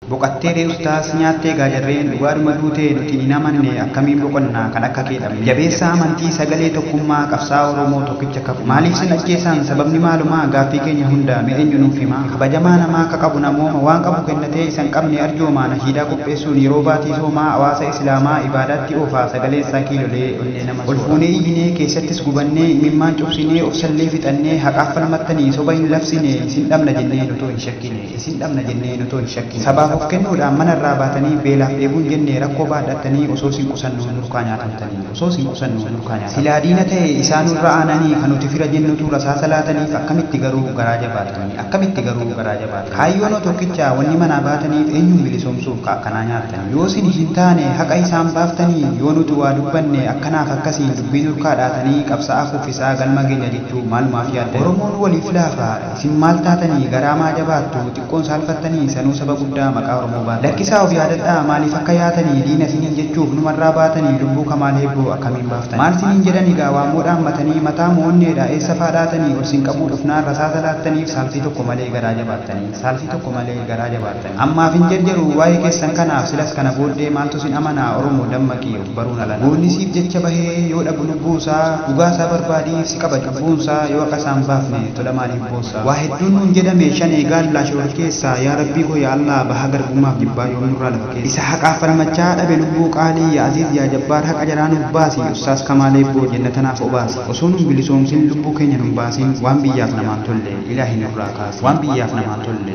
Boqattee ree ustaaz nyaattee egaa jarreen dhugaadhuma duute nuti hin amanne akkamiin boqonna kan akka kee dhabne jabeessaa amantii sagalee tokkummaa qabsaa'aa oromoo tokkicha kfo maaliif sin ajjeesaan sababni maalumaa gaaffii keenya hunda mee enyu nuuf himaa kabajamaa namaa ka qabu namooma waan qabu kennatee isa hin qabne arjoomaa nashiidaa qopheessuun yeroo baatii soomaa awaasa isilaamaa ibaadaatti oofaa sagaleen isaa kiilolee onnee nama soora olfuunee iyyinee keessattis gubannee imimmaan cobsinee obsallee fixannee haqaaf falmattanii soba hin labsine isin dhabna jenneen otoo hin shakkine. Isin dhabna jennee otoo hin shakkiin. Sabaaf of kennuudhaan mana irraa baatanii beelaaf dheebuun jenne rakkoo baadhattanii osoo isin qusannu nurkaa nyaatamtanii. Osoo isin qusannu nurkaa nyaatamtanii. Silaa diina ta'e isaa nurra aananii ka nuti fira jennutu rasaasa laataniif akkamitti garuu garaa jabaatanii? Akkamitti garuu garaa jabaatanii? Kaayyoonoo tokkicha wanni manaa baataniif eenyuun bilisoomsuuf ka akkanaa nyaattan? Yoo isin hin taane haqa isaan baaftanii? Yoo nuti waa dubbanne akkanaaf akkasiin dubbii nurkaa dhaatanii qabsa'aa kuffisaa galma geenya jechuu maalumaaf yaaddanii? Oromoon waliif laafa. Isin maal taatanii garaa maa jabaattu xiqqoon saalfattanii sanuu saba guddaa maqaa oromoo baattu lakkisaa of yaadadhaa maaliif akka yaatanii diina isiniin jechuuf numarraa baatanii lubbuu kamaal eebboo akkamiin baaftan maal siniin jedhan egaa waammoo dhaammatanii mataa moo onneedha eessa faa dhaatanii ol sin qabuu dhufnaan rasaasa laattaniif saalfii tokko malee garaa jabaattanii saalfii tokko malee garaa jabaattanii Ammaaf hin jarjaruu waa'ee keessan kanaaf silas kana booddee maaltu sin amanaa oromoo dammaqi of baruun alanaa. Goonni siif jecha bahee yoo dhabu lubbuun isaa dhugaa isaa barbaadiif si qaba cubbuun isaa yoo haqa isaa hin baafne tola maaliif boossaa. Waa hedduun nuun jedhame shanee gaallaa shororkeessaa yaa rabbii koo yaa allaah bahaa garbummaaf jibbaa yoom nurraa lafa keessaa. Isa haqaaf falmachaa dhabe lubbuu qaalii yaa aziiz yaa jabbaar haqa jalaa nuuf baasi ussaaz kamaal eebboo jannata naaf obaasi osoo nun bilisoomsin lubbuu keenya nun baasin waan biyyaaf namaan tolle ilaahi nurraa kaasi waan biyyaaf namaan tolle